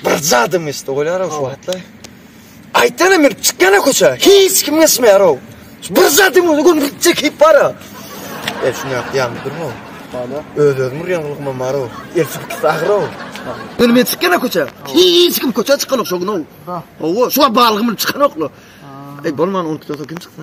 Bir zadym esde bolýar-ow şu wagtlar. Aýtana men çykýana köçä, hiç kim geçmeýär-ow. Bir zadym öňe gün gitjek hep bar-a. E şuny ýapýan durma. Bala. Öz-özüm urýan gylgymam bar-ow. El çykyp agyr-ow. Ýöne men çykýana köçä, hiç kim köçä çykanok şo gün-ow. Hawa, şu wagt balgymyny çykanok-la. Eý bolman ony köçä kim çyksa.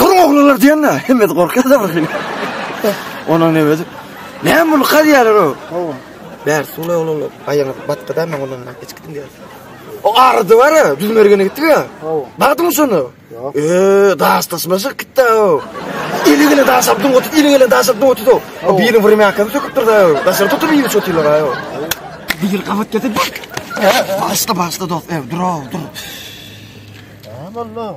Dur oglanlar diýende hemmesi gorkýar-da bir hili. Onuň nebesi? Näme bu lykar ýalar o? Hawa. Bär suwla oglanlar. Aýagyňyz batgyda men ondan hiç gitdim diýär. O ardy bar ya, düz mergene gitti ya. Hawa. Baktın mı şunu? Yok. Eee, daş taşmaşık gitti o. Eli gele daş abdun otur, eli gele daş abdun otur o. O birini vurum yakanı söküp durdu o. Daşarı tutup iyi çotuyorlar ayo. Bir yıl kavat getir. Başla başla dost ev, dur o, dur. Tamam oğlum.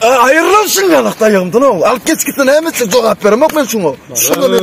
Aýyrlan şun ýalak daýagymdan o. Alyp geç gitsin näme üçin jogap beremok men şuňa. Şuňa men.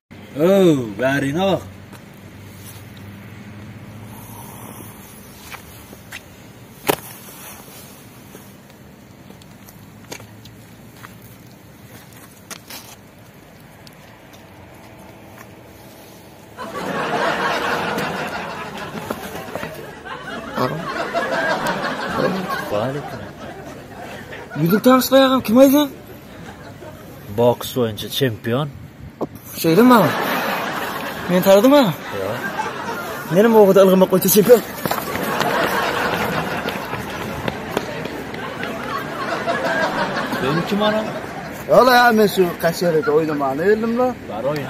Öw, bäriňe bak. Ýüzük taşlaýarkam kim aýdýan? Boks boýunça çempion. Şeýle mi? Men taradyň ha? Ýok. Menem owada ylgamak boýunça çempion. Sen kim ana? Ola ya men şu kaçerede oynamana geldim la. Bar oyna.